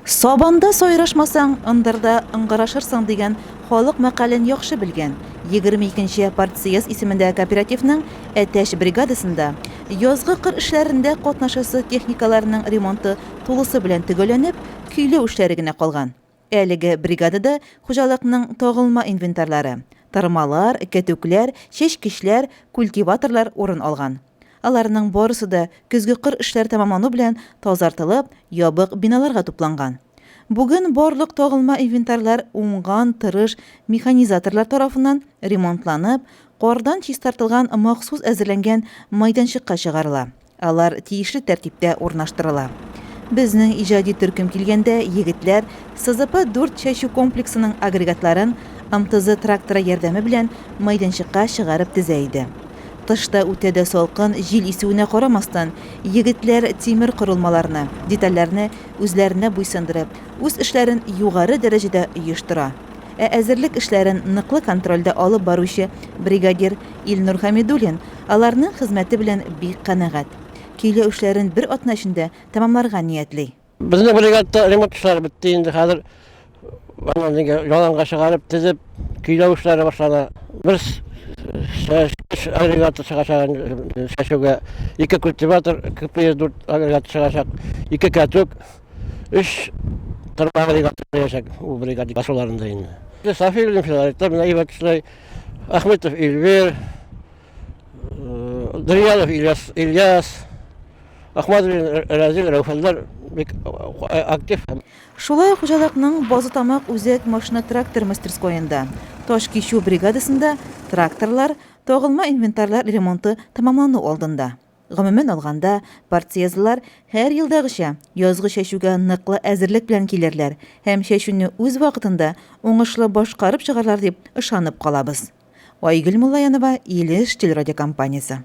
Сабанда сайрашмасаң, ындырда ыңгырашырсың дигән халык мәкален яхшы белгән, 22 нче партсъезд исемендәге кооперативның Әтәч бригадасында язгы кыр эшләрендә катнашасы техникаларның ремонты тулысы белән төгәлләнеп, көйләү эшләре генә калган. Әлеге бригадада хуҗалыкның тагылма инвентарьлары, тырмалар, кәтүкләр, чәчкечләр, культиваторлар урын алган. Аларның барысы да көзге кыр эшләре тәмамлану белән тазартылып, ябык биналарга тупланган. Бүген барлык тагылма инвентарьлар уңган, тырыш механизаторлар тарафыннан ремонтланып, кардан чистартылган махсус әзерләнгән майданчыкка чыгарыла. Алар тиешле тәртиптә урнаштырыла. Безнең иҗади төркем килгәндә, егетләр СЗП дүрт чәчү комплексының агрегатларын МТЗ тракторы ярдәме белән мәйданчыкка чыгарып тезә иде. Тышта үтә дә салкын, җил исүенә карамастан, егетләр тимер корылмаларны, детальләрне үзләренә буйсындырып, үз эшләрен югары дәрәҗәдә оештыра. Ә әзерлек эшләрен ныклы контрольдә алып баручы бригадир Илнур Хәмидуллин аларның хезмәте белән бик канәгать. Көйләү эшләрен бер атна эчендә тәмамларга ниятли. Безнең бригадада ремонт эшләре бетте инде, хәзер аны нигә яланга чыгарып, тезеп, көйләү эшләре башлана. Бер чәчү агрегаты чыгачак инде чәчүгә. Ике культиватор, КПС-4 агрегаты чыгачак, ике кәтүк, өч тырма агрегаты киләчәк ул бригада басуларында инде. Сафиуллин Филарит та менә әйбәт эшләй. Ахметов Эльвир, Дриянов Ильяс, Ильяс Ахмадуллин Разил Рәүфәнләр бик актив. Шулай хуҗалыкның Базытамак үзәк машина трактор мастерскоенда, таш кичү бригадасында тракторлар, тагылма инвентарьлар ремонты тәмамлану алдында. Гомумән алганда, партсъездлар, һәр елдагыча, язгы чәчүгә ныклы әзерлек белән килерләр һәм чәчүне үз вакытында уңышлы башкарып чыгарлар дип ышанып калабыз. Айгөл Муллаянова, Илеш телерадиокомпаниясе.